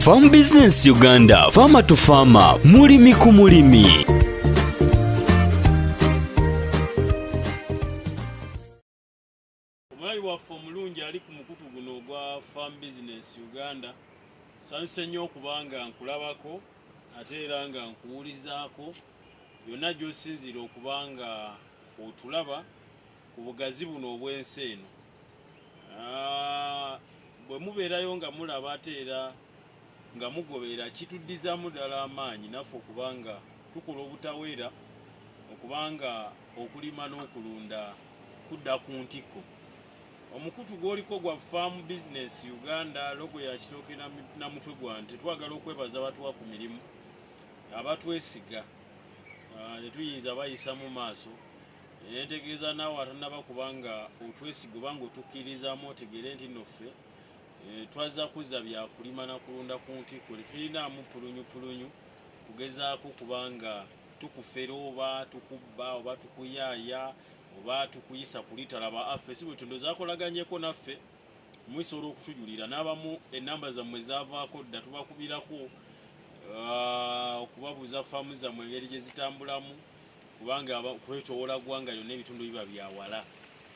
Farm Business Uganda, Farmer to Farmer, mulimi ku mulimi. Omulayi waffe omulungi ali ku mukutu guno ogwa Farm Business Uganda, sanyuse nnyo okuba nga nkulabako ate era nga nkuwulizaako yonna gy'osinziira okuba nga otulaba ku bugazi buno obw'ensi eno. Ah, bwe mubeerayo nga mulaba ate era nga mugobeera kituddizaamu ddala amaanyi naffe okuba nga tukola obutaweera okuba nga okulima n'okulunda kudda ku ntikko omukutu gwoliko gwa farm business uganda logo ya kitooke na mutwe gwa nti twagala okwebaza abatuwa ku mirimu abatwesiga ah, netuyinza bayisa mu maaso netegeeza naawe atanaba kubanga otwesiga oba nga otukkirizamu otegeere nti no ffe eh, twazza kuzza byakulima na kulunda ku ntiko tetulinaamu pulunyupulunyu kugezaako kubanga tukufera oba tukubba oba tukuyaaya oba tukuyisa kulitalaba affe si bwe tundo zakolaganyeko naffe muisobola okutujulira n'abamu enamba zammwe zavaako dda tubakubirako ah, okubabuuza faamu zammwe engeri gye zitambulamu kubanga kwetoowola ggwanga lyonna ebitundu biba bya wala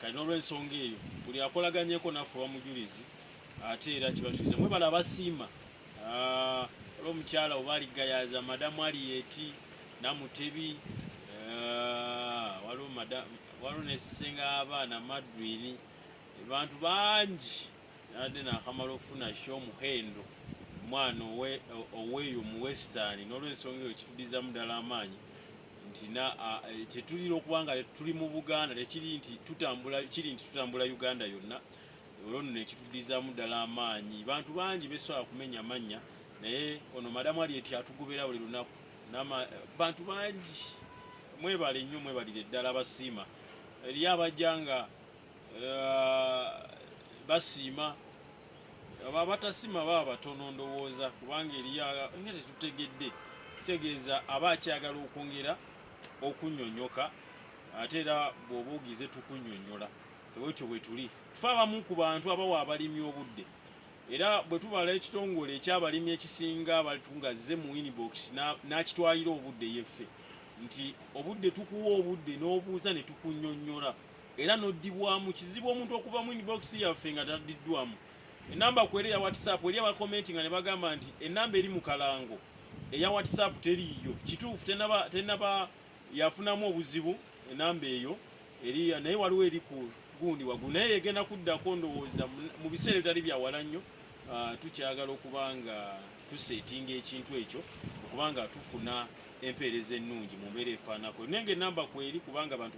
kati n'olwensonga eyo buli akolaganyeko naffe oba mujulizi ate era kibatuuza mwebale abasiima ah, olwo omukyala oba aligayaza madamu aliyeti namutebi ah, waliwo nesisenga abaana madwiri bantu bangi nade nakamala okufuna sho muhendo omwana oweeyo mu western nolwensonga eyo kitudizamu ddala amaanyi nti eh, tetulina okuba nga tuli mu buganda tekiri nti tutambula kiri nti tutambula uganda yonna olwo nno nekitudizamu ddala amaanyi bantu bangi besobola kumenya mannya naye ono madamu ali eti atugobera buli lunaku bantu bangi mwebale nnyo mwebalire ddala abasiima eriyo abajja nga uh, basiima aba batasima baba batono ndowooza kubanga eriyo nga tetutegedde kitegeeza aba akyagala okwongera okunyonyoka ate era bwoba ogize tukunyonyola fewetyo bwetuli tufe abamu ku bantu abawa abalimi obudde era bwe tubala ekitongole ekyabalimi ekisinga abantu nga zze mu inbox n'akitwalira obudde yeffe nti obudde tukuwa obudde n'obuuza ne tukunyonyola era noddibwamu kizibu omuntu okuva mu inbox yaffe nga taddiddwamu enamba kwera eya whatsapp eri abakomenti nga ne bagamba nti enamba eri mu kalango eya whatsapp teriiyo kituufu tenaba, tenaba yafunamu obuzibu enamba eyo eri naye waliwo eri ku gundi wagulu naye egenda kuddako ndowooza mu biseera ebitali byawala nnyo ah, tukyagala okuba nga tuseetinga ekintu ekyo okuba nga tufuna empeereza ennungi mu mbeera efaanako naye nga enamba kweri kubanga abantu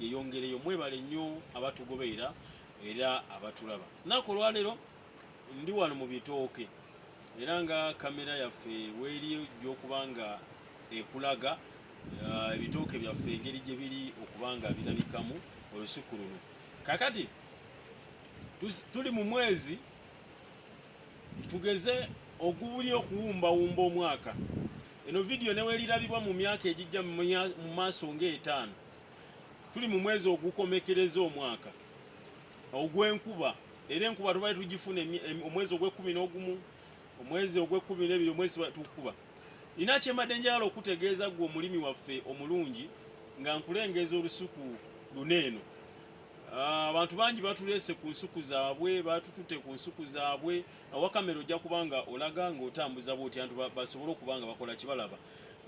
yeyongereyo mwebale nnyo abatugobeera era abatulaba naku olwaleero ndi wano mu bitooke era nga kamera yaffe weeri ojja okuba nga ekulaga uh, ebitooke byaffe engeri gye biri okuba nga birabikamu olusuku luno kakati tuli mu mwezi tugeze ogubuli okuwumbawumba omwaka eno vidiyo neweerirabibwa mu myaka egijja mu maaso ngaetaano tuli mu mwezi ogukomekereza omwaka ogw'enkuba era enkuba tubale tugifuna omwezi ogw'ekkumi n'ogumu omwezi ogw'ekkumi n'ebiri omwezi tukuba nina kyembadde njagala okutegeeza gwe omulimi waffe omulungi nga nkulengeeza olusuku luna eno ah, abantu bangi batuleese ku nsuku zaabwe batutute ku nsuku zaabwe awakamera ojja kubanga olaga ngaotambuza bwoti antu basobole okuba nga bakola kibalaba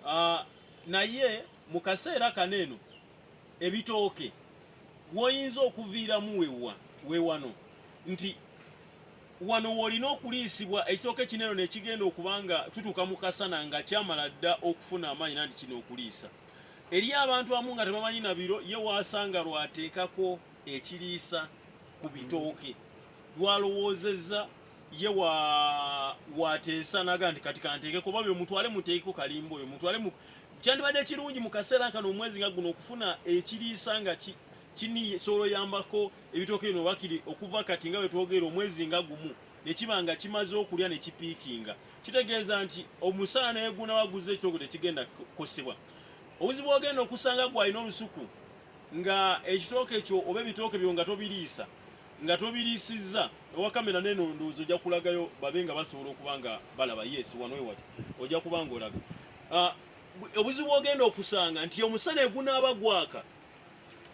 ah, naye Mu kaseera kano eno ebitooke woyinza okuviiramu wewa wewano nti wano wolina okuliisibwa ekitooke kino eno nekigenda okuba nga tutuuka mu kasana nga kyamala dda okufuna amaanyi nanti kino okuliisa eri abantu amu nga tebamanyi na biro ye waasanga lwateekako ekiriisa ku bitooke lwalowoozezza ye wa wateesa naga nti kati kanteeke kuba oyo mutwale muteekeko kalimba oyo mutwale mu kyandibadde ekirungi mu kaseera nkano omwezi nga guno okufuna ekiriisa nga ki kini solo yambako ebitooke bino bakiri okuva kati nga wetwogeera omwezi nga gumu nekiba nga kimaze okulya nekipiikinga kitegeeza nti omusaala naye gunawa guze ekitoogo tekigenda kukosebwa obuzibu ogenda okusanga gwalina olusuku nga ekitooke ekyo oba ebitooke byo nga tobiriisa nga tobiriisizza ewa kamera neno ndowooza ojja kulagayo babe nga basobola okuba nga balaba yes wano ewali ojja kuba nga olaga ah, obuzibu ogenda okusanga nti omusana egunaaba gwaka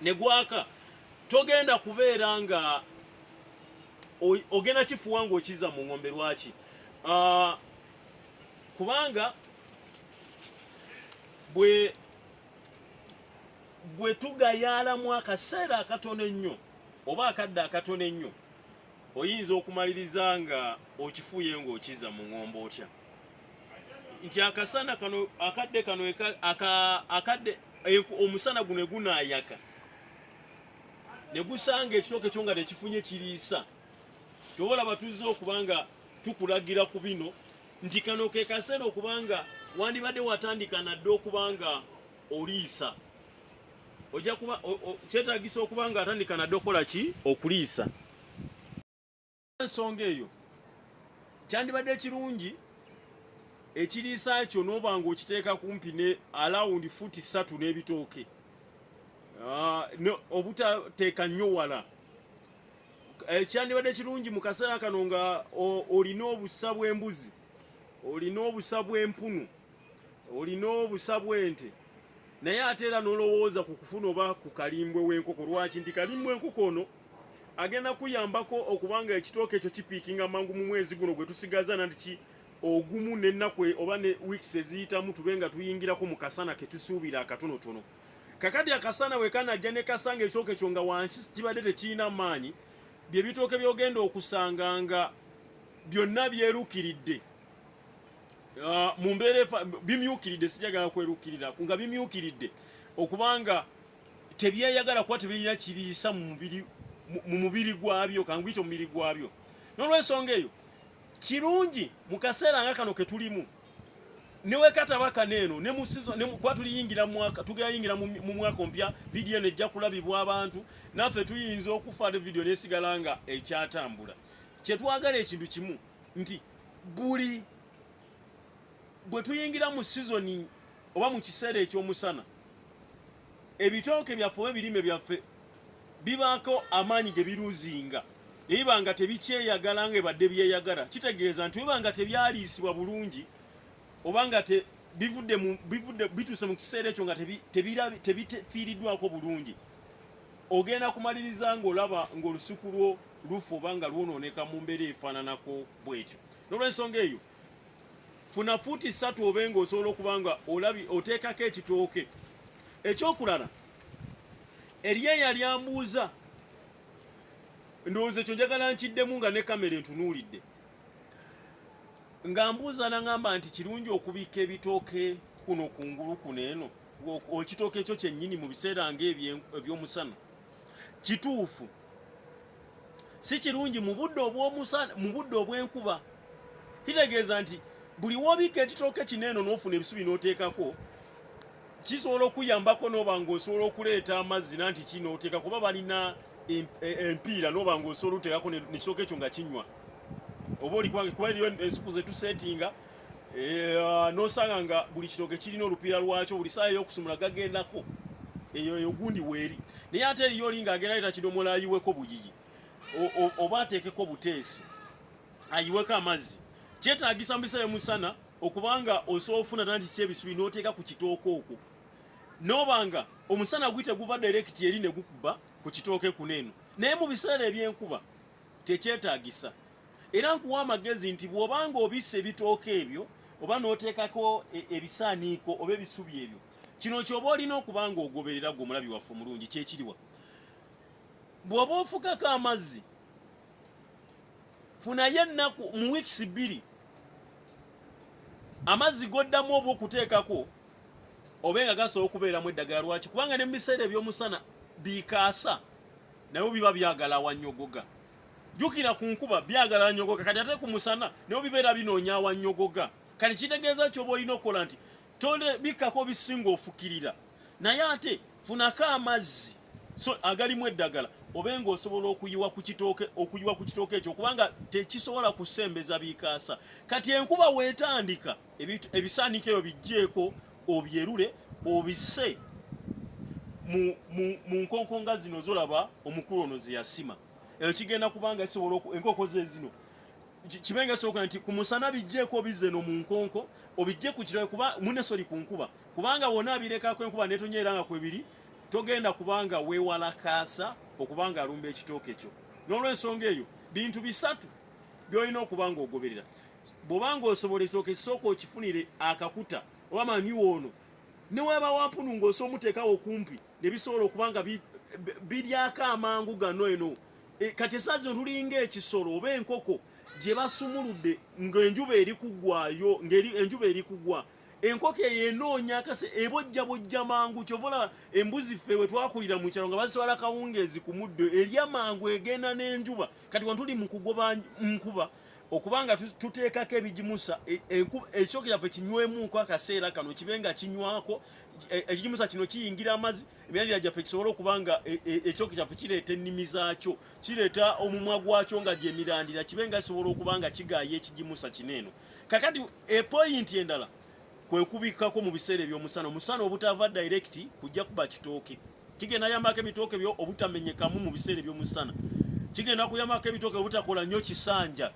ne gwaka togenda kubeera nga ogenda kifuwa nga okiza mu ngombe lwaki ah, kubanga bwe bwe tugayaalamu akaseera akatono ennyo oba akadde akatono ennyo oyinza okumaliriza nga okifuuye ng'okiza mu ŋombo otya nti akasana kano akadde kano akadde omusana guno egunaayaka ne gusanga ekitooke kyo nga tekifunye kiriisa tobola batuzze okuba nga tukulagira ku bino nti kano ke kaseera okuba nga wandibadde watandika nadde okuba nga oliisa ojja kuba kyetagisa okuba nga atandika nadde okola ki okuliisa ensonga eyo kyandibadde kirungi ekiriisa kyo n'oba nga okiteeka kumpi ne alawundi fuuti ssatu n'ebitooke ah, obutateeka nnyo wala eh, kyandibadde kirungi mu kaseera kano nga olina obusa bw'embuzi olina obusa bw'empunu olina obusa bwente naye ate era nolowooza ku kufuna oba ku kalimbwe w'enkoko lwaki nti kalimbwe enkoko ono agenda kuyambako okubanga ekitooka ekyo kipiikinga mangu mu mwezi guno gwe tusigaza nandiki ogumu n'ennaku e, oba ne weeks eziyitamu tube nga tuyingirako mu kasana ke tusuubira akatonotono kakati akasana bwe kanajja ne kasanga ekitooka ekyo nga wansi kibadde tekirina maanyi bye bitooke by'ogenda okusanga nga byonna byerukiridde uh, mu mbeera efa bimyukiridde sijagala kwerukirira nga bimyukiridde okubanga tebyeyagala kuba tebirina kiriisa mu mubiri gwabyo kanguyita omubiri gwabyo n'olwensonga eyo kirungi mu kaseera nga kano ketulimu newekataba kano eno kuba tuliyingira mwaka tugeyayingira mu mwaka ompya vidiyo eno ejja kulabibwa abantu naffe tuyinza okufa vidiyo nesigala nga ekyatambula kyetwagala ekintu kimu nti buli bwe tuyingira mu sizoni oba mu kiseera eky'omusana ebitooke byaffe oba ebirime byaffe bibaako amaanyi ge biruzinga ne biba nga tebikyeyagala nga ebadde byeyagala kitegeeza nti biba nga tebyaliisibwa bulungi oba nga bivudde bivudde bituuse mu kiseera ekyo nga tebifiiriddwako bulungi ogenda kumaliriza ng'olaba ng'olusuku lwo lufu oba nga lwonooneka mu mbeera efaananako bwetyo n'olwensonga eyo funa fuuti ssatu obe nga osobola okuba nga olabi oteekako ekitooke ekyokulala eriyo eyali ambuuza ndowooza ekyo njagala nkiddemu nga ne kamera entunuulidde nga mbuuza nangamba nti kirungi okubikka ebitooke kuno kungulu kuno eno ekitooke ekyo kyennyini mu biseera nga ebyomusana kituufu si kirungi mu budde obw'omusana mu budde obw'enkuba kitegeeza nti buli w'obikka ekitooke kino eno n'ofuna ebisubi n'oteekako kisobola okuyambako n'oba ng'osobola okuleeta amazzi nanti ki n'oteeka kuba balina e, empiira n'oba ng'osobola oteekako nekitooke ekyo nga kinywa oba olikuba eriyo ensuku zetusetinga Eh, nosanga nga buli kitoke kirina olupiira lwakyo buli saa eyokusumula gagendako eyo eyo gundi weeri naye ate eriyo olinga agenda leta kidomola ayiweko buyiyi oba ateekeko buteesi ayiweko amazzi kyetagisa mubisa yomusana okubanga osobola ofuna dala nti kyebisubi noteeka ku kitooke okwo nobanga omusana guyite guva direkiti eri negukuba ku kitooke kuno eno naye mu biseera ebyenkuba tekyetagisa era nkuwa amagezi nti bw'obanga obisa ebitooke ebyo oba n'oteekako e, ebisaaniiko oba ebisubi ebyo kino kyoba olina okuba nga ogoberera gwe omulabi waffe omulungi kyekiriwa bw'oba ofukako amazzi funayo ennaku mu wiikisi bbiri amazzi goddamu oba okuteekako obe nga gasobola okubeeramu eddagala lwaki kubanga ne mu biseera eby'omusana bikaasa naye biba byagala awanyogoga jukira ku nkuba byagala anyogoga kati ate ku musana naye bibeera binoonya awanyogoga kati kitegeeza kyoba olina okukola nti tole bikkako bisinga ofukirira naye ate funako amazzi so agalimu eddagala obe nga osobola okuyiwa ku kitooke okuyiwa ku kitooke ekyo kubanga tekisobola kusembeza bikaasa kati enkuba weetandika ebisaaniiko ebyo bijjeeko obyerule obise mu nkonkonga zino zolaba omukulu ono zeyasima eyo kigenda kubanga kisobola enkoko ze zino kibe nga soka nti ku musana bijjeeko obize no mu nkonko obijje ku kirabe kuba mune soli ku nkuba kubanga wona abirekako enkuba netonyeera nga kwebiri togenda kubanga weewala kaasa okubanga alumba ekitooke kyo n'olwensonga eyo bintu bisatu byolina okubanga ogoberera bwoba ng'osobola ekitooke kisooka okifunire akakuta oba manyiwa ono ne weba wampunu ng'osa omuteekawo okumpi ne bisobola okuba nga biryako amangu gano eno e, kati esaa zino tulinga ekisolo oba enkoko gye basumuludde ng'enjuba eri kugwayo ng'enjuba eri kugwa enkoko eyo enoonya kase ebojja bojja mangu kyova olaba embuzi ffe we twakulira mu kyalo nga bazitwala kawungeezi ku muddo erya mangu egenda n'enjuba kati wano tuli mu kugoba nkuba okuba nga tuteekako ebigimusa e, ekyoka kyaffe kinywemuuko akaseera kano kibe nga kinywako e, ekigimusa kino kiyingira amazzi emyalira gyaffe kisobole okuba nga e, ekyoka kyaffe kireeta ennimi zaakyo kireeta omumwa gwakyo nga gyemirandira kibe nga kisobola okuba nga kigaaya ekigimusa kino eno kakati epoyinti endala kwekubikkako mu biseera ebyomusana omusana obutava direct kujja kuba kitooke kigenda yambako ebitooke byo obutamenyekamu mu biseera ebyomusana kigenda kuyambako ebitooke obutakola nnyo kisanja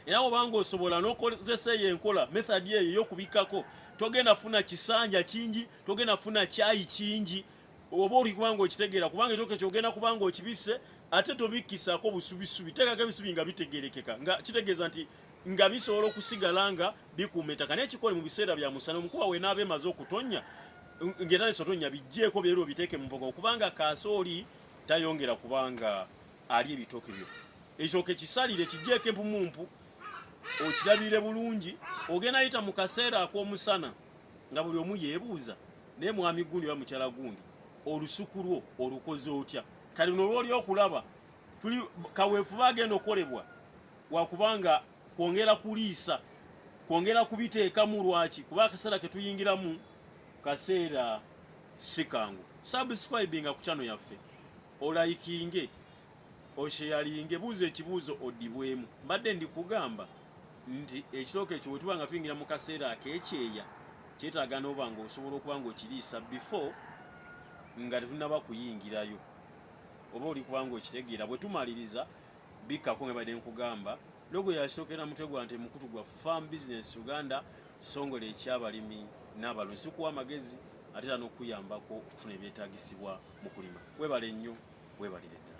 era obanga osobola nokozesa eyo enkola methodi eyo yokubikkako togenda funa kisanja kingi togenda funa kyayi kingi oba oli kubanga okitegeera kubanga ekitooke kyogenda kubanga okibisse ate tobikkisako busubisubi tekako ebisubi nga bitegerekeka nga kitegeeza nti nga bisobola okusigala nga bikuuma ettaka naye kikole mu biseera bya musana omukuba wenaaba emaze okutonnya ng'era nesotonnya bijjeeko byerwo biteeke mu mboga okubanga kaasooli tayongera kubanga ali ebitooke byo ekitooke kisalire kijjeeko empumumpu okirabire bulungi ogenda yita mu kaseera ak'omusana nga buli omu yeebuuza naye mwami gundi oba mukyala gundi olusuku lwo olukoze otya kati nolwoli okulaba tuli kaweefube agenda okolebwa wakuba nga kwongera kuliisa kwongera kubiteekamu lwaki kuba akaseera ketuyingiramu kaseera sikangu subscribinga ku kyano yaffe olayikinge osheyalinge buuza ekibuuzo odibwemu mbadde ndikugamba nti ekitooka ekyo wetuba nga tuyingira mu kaseera akekyeya kyetaaga noba nga osobola okuba nga okiriisa before nga tetunaba kuyingirayo oba oli kubanga okitegeera bwetumaliriza bikkako nga badde nkugamba logo yasookera mutwe gwa nti mukutu gwa farm business uganda kisongole ekyabalimi n'abalunzi tukuwa amagezi ate era n'okuyambako okufuna ebyetagisibwa mu kulima webale nnyo webalire ddala